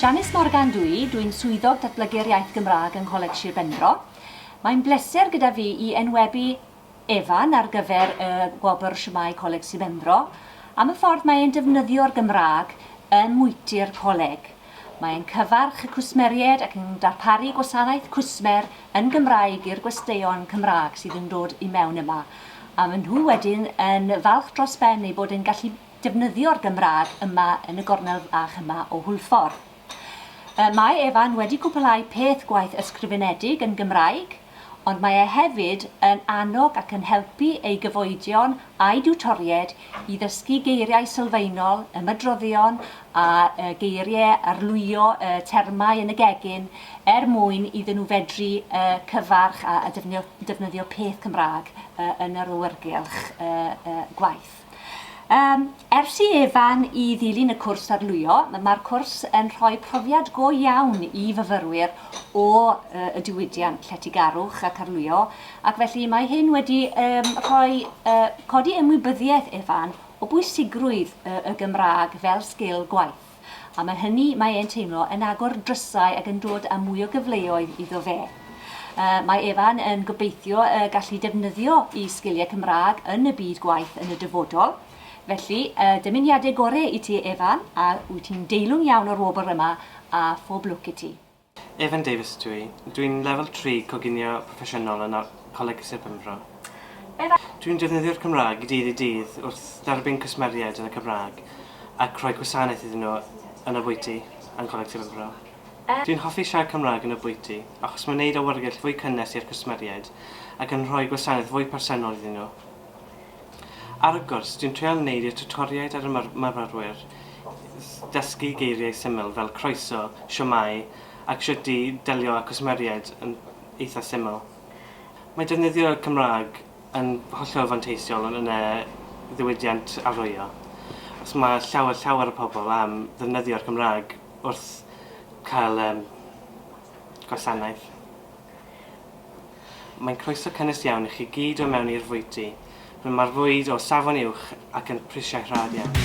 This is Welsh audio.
Janice Morgan dw i, dw i'n Swyddog Datblygu'r Iaith Gymraeg yng Ngholeg Sir Benfro. Mae'n bleser gyda fi i enwebu Evan ar gyfer y Gwobr Shwmae Coleg Sir Benfro am y ffordd mae e'n defnyddio'r Gymraeg ym mwyty'r Coleg. Mae e'n cyfarch y cwsmeriaid ac yn darparu gwasanaeth cwsmer yn Gymraeg i'r gwesteion Cymraeg sydd yn dod i mewn yma, a maen nhw wedyn yn falch dros ben eu bod yn gallu defnyddio'r Gymraeg yma yn y gornel fach yma o Hwlffordd. Yy mae Evan wedi cwpwlhau peth gwaith ysgrifenedig yn Gymraeg, ond mae e hefyd yn annog ac yn helpu ei gyfoedion a'i diwtoried i ddysgu geiriau sylfaenol, ymadroddion a yy geirie, arlwyo y termau yn y gegin er mwyn iddyn nhw fedru yy cyfarch a a defnyddio defnyddio peth Cymraeg yy yn yr awyrgylch yy yy gwaith. Yym, ers i Evan i ddilyn y cwrs arlwyo, mae'r cwrs yn rhoi profiad go iawn i fyfyrwyr o yy y diwydiant lletygarwch ac arlwyo, ac felly mae hyn wedi yym rhoi yy codi ymwybyddiaeth Evan o bwysigrwydd yy y Gymraeg fel sgil gwaith. Am yr hynny, mae e'n teimlo yn agor drysau ac yn dod â mwy o gyfleoedd iddo fe. Yy, mae Evan yn gobeithio y gallu defnyddio i sgiliau Cymraeg yn y byd gwaith yn y dyfodol. Felly, y dymuniadau gore i ti Evan, a wyt ti'n deilwng iawn o'r wobr yma, a phob lwc i ti. Evan Davies ydw i. Dw i'n Lefel Tri Coginio Proffesiynol yn Coleg Sir Benfro. Dw i'n defnyddio'r Cymraeg dydd i dydd wrth dderbyn cwsmeriaid yn y Cymraeg ac rhoi gwasanaeth iddyn nhw yn y bwyty yn Coleg Sir Benfro. Dw i'n hoffi siarad Cymraeg yn y bwyty achos mae'n wneud awyrgylch fwy cynnes i'r cwsmeriaid ac yn rhoi gwasanaeth fwy personol iddyn nhw. Ar y gwrs, dwi'n treial neud y tiwtoriaid ar y myfyrwyr ddysgu geiriau syml fel croeso, shwmae ac shwt i delio â cwsmeriaid yn eitha syml. Mae defnyddio y Cymraeg yn hollol fanteisiol yn y ddiwydiant arwyo, os mae llawer llawer o pobl am ddefnyddio'r Gymraeg wrth cael gwasanaeth. Mae'n croeso cynnes iawn i chi gyd o mewn i'r fwyty. Rwy mae'r fwyd o safon uwch ac yn prisiau rhad iawn.